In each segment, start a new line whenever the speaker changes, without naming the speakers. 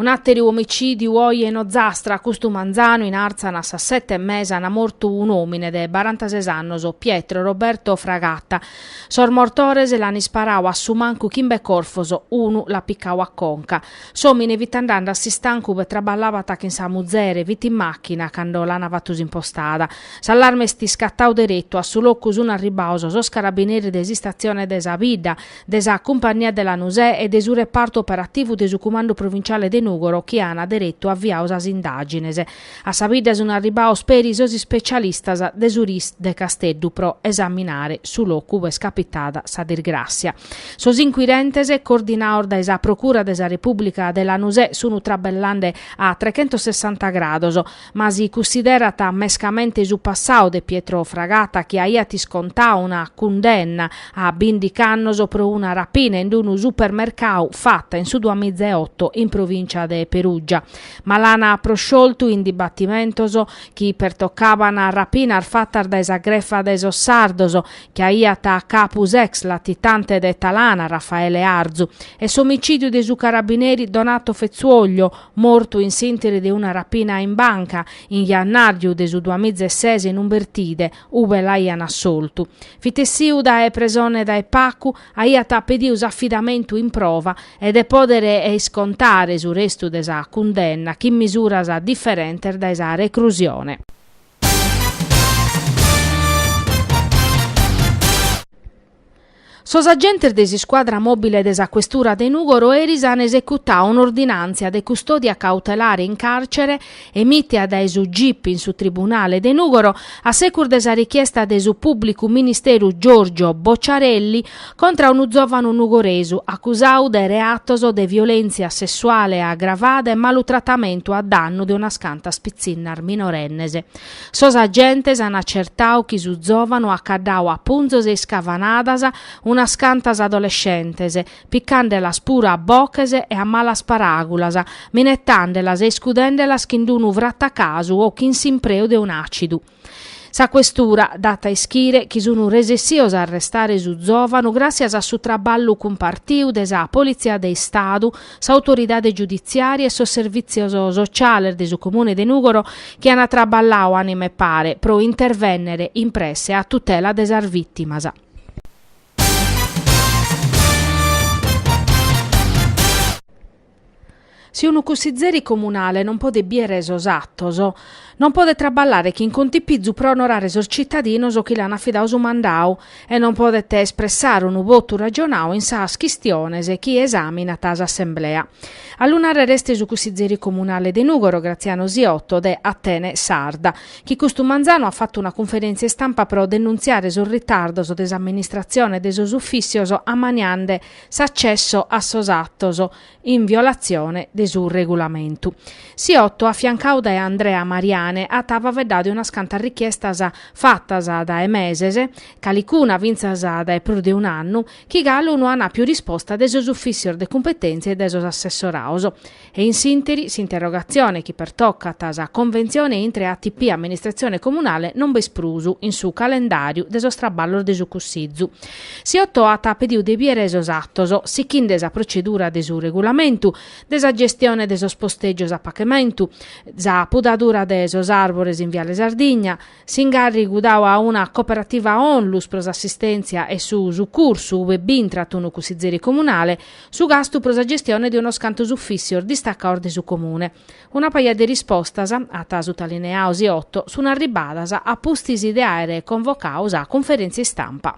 Un'àteru omicìdiu oje in Ozastra, custu manzanu in Àrzana a sas sete e mesa ana mortu un'òmine de barantases annos, Pietro Roberto Fragata. Sos mortores l'an isparau a su mancu chimbe corfos, unu l'at picau a conca. S'òmine fit andande a s'istancu ube traballabat chin sa muzere, fit in màchina cando l'ana fatu s'impostada. S'allarme est iscatau deretu, a su locu sun arribbaos sos carabineris de s'istatzione de sa bidda, de sa Cumpagnia de Lanusè e de su repartu operativu de su Cumandu Provinciale de Nùgoro chi ana deretu aviau sas indàgines. A sa bidda sun arribbaos peri sos ispecialistas de su ris de Casteddu pro esaminare su locu ube est capitada sa disgràssia. Sos inquirentes, coordinados dae sa Procura de sa Repùblica de Lanusè, sun traballande a trechentossessanta grados. Ma si cunsiderat mescamente su passau de Pietro Fragata chi aiat iscontau una cundenna a bìndichi annos pro una rapina in unu supermercau fata in su duamiza e oto in provìncia de Perùgia, ma l'an proscioltu in dibatimentos chi pertocaban rapinas fatas dae sa grefa de sos sardos chi aiat a capu s'ex latitante de Talana Raffaele Arzu e s'omicìdiu de su carabineri Donato Fezzuoglio, mortu in s'interi de una rapina in banca, in jannàriu de su duamiza e ses in Umbertide, ube l'aian assoltu. Fit essiu dae presone dae pacu, aiat pediu s'afidamentu in prova e de pòdere iscontare su restu de sa cundenna chin misuras diferentes dae sa recrusione. Sos agentes de s'iscuadra mòbile de sa questura de Nùgoro eris an esecutau un'ordinàntzia de custòdia cautelare in càrcere, emìtia dae su gip in su tribunale de Nùgoro, a secus de sa richiesta de su pùblicu ministeru Giorgio Bocciarelli, contra unu zòvanu nugoresu acusadu de reatos de violèntzia sessuale agravada e malutratamentu a dannu de unas cantas pitzinnas minorennes. Sos agentes an acertau chi su zòvanu at caddau a punzos e iscavanadas unas cantas adolescentes, picàndelas puru a boches e a malas paràgulas, minetàndelas e iscudèndelas chin d-unu fratacasu o chin s'impreu de un'àcidu. Sa questura dat a ischire chi sun resessios a arrestare su zòvanu gràssias a su traballu cumpartiu de sa Politzia de Istadu, s'autoridade giuditziària e sos servìtzios sotziales de su Comune de Nùgoro chi an traballau ànima e pare pro intervènnere in presse a tutela de sas vìtimas. Si unu cussizeri comunale non podet bìere sos atos, Non podet traballare chin contipizu pro onorare sos citadinos chi l'an afidadu su mandadu e non podet espressare unu votu ragionadu in sas chistiones chi esaminat s'Assemblea. A lu narrer est su cussizeri comunale de Nùgoro, Graziano Siotto, de Atene Sarda, chi custu manzanu at fatu una cunferèntzia istampa pro denuntziare sos ritardos de s'amministratzione e de sos ufìssios ammaniende s'accesso a sos atos in violatzione de su regulamentu. Siotto, afiancadu dae Andrea Mariane, at faveddadu de unas cantas richiestas fatas dae meses, calicuna fintzas dae prus de un'annu, chi galu no an àpiu risposta de sos ufìssios de cumpetèntzia e dae sos assessorados. E in s'ìnteri, s'interrogatzione chi pertocat sa conventzione intre ATP e amministratzione comunale non b'est prus in su calendàriu de sos traballos de su Cussizu. Siotto at pediu de biere sos atos, sichinde sa procedura de su regulamentu, de sa gestione de sos posteggios a pacamentu, sa pudadura de sos arbores in Viale Sardigna, s'ingarrigu dau a una cooperativa onlus pro s'assistentzia e su sucursu ube b'intrat unu cussizeri comunale, su gastu pro sa gestione de unos cantos uffissios distacaos de su Comune. Una paja de rispostas, at sutalineau Siotto, sun arribbadas a pustis de àere convocau sa cunferèntzia istampa.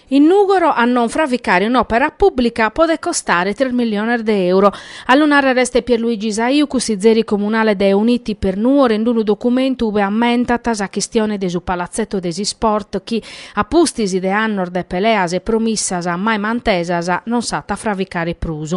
In Nùgoro a non fraficare un'òpera pùblica podet costare tres milliones de euro. A lu nàrrere est Pierluigi Saiu, cussizeri comunale de Uniti per Nuoro in unu documentu ue ammentat sa chistione de su palatzetto de s'isport chi, A pustis de annos de peleas e promissas mai mantesas non s'at a fraficare prus.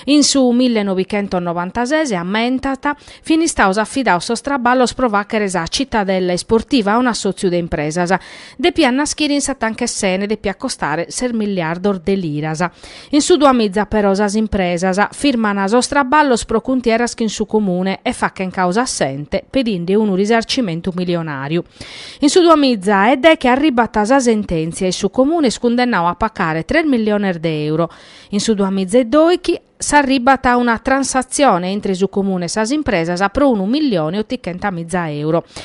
In su millenovichentosnovantases, ammentat, fin istados afidados sos traballos pro fàghere sa Cittadella Isportiva a un'assòtziu de impresas. Depiat naschire in sa Tanca 'e s'Ena, depiat costare ses milliardos de liras. In su Duamiza però sas impresas firmana sos traballos pro cuntieras chin su Comune e fachen causa a s'ente pedinde unu risarcimentu milionariu. In su Duamiza e deche arribat sa sententzia e su Comune est cundennau a pacare tres milliones de euro. In su Duamiza e doichi s'arribat a una transatzione intre su Comune e sas impresas pro unu millione ottichentamiza euro.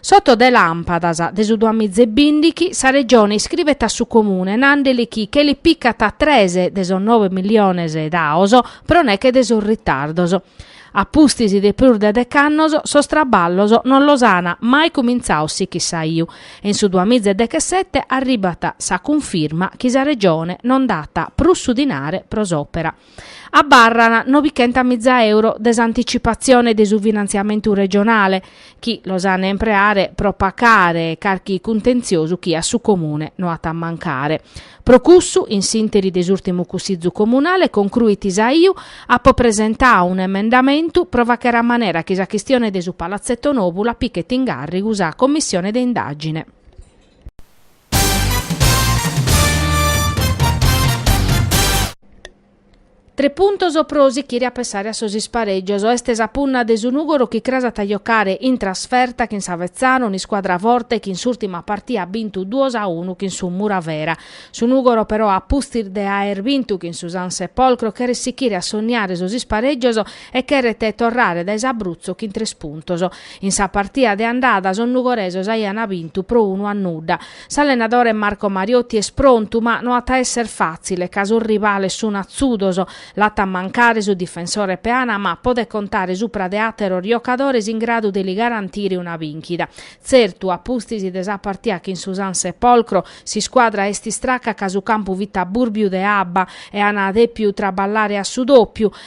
S'oto de lampadas de su duamiza e bindichi sa Regione iscribet a su Comune nandeli chi che li picat tres de sos nobe milliones daos pro neche de sos ritardos. A pustis de prus de dec'annos sos traballos non los ana mai cumintzados sichit Saiu e in su duamiza e dechesete arribat sa cunfirma chi sa Regione non dat prus su dinare pro s'opera. abarran nobichenta miza euro de s'anticipazione de su finanziamentu regionale chi los an empreare pro pacare carchi cuntenziosu chi a su Comune no at a mancare. Pro cussu, in s'interi de s'urtimu Cussizu Comunale concruit Saiu, apo presentau un'emendamentu pro fàcher a manera chi sa chistione de su Palatzeto Nobu la pichet in gàrrigu sa Commissione de indàgine. Tres puntos pro sichire a pensare a sos isparègios. Est sa punna de su Nùgoro chi cras at a jocare in trasferta chin s'Avezzano, un'iscuadra forte chi in s'ùrtima partia at bintu duos a unu chin su Muravera. Su Nùgoro però a pustis de aer bintu chin su San Sepolcro cheret sichire a sonniare sos isparègios e cheret torrare dae s'Abruzzo chin tres puntos. In sa partia de andada sos nugoresos aian bintu pro unu a nudda. S'allenadore Marco Mariotti est prontu ma no at a esser fàtzile ca sos rivales sun atzudos. L'at a mancare su difensore Peana ma podet contare supra de àteros giocadores in gradu de li garantire una bìnchida. Tzertu, a pustis de sa partia chin su San Sepolcro, s'iscuadra est istraca ca su campu fit a bùrbiu de abba e an dèpiu traballare a su dòpiu,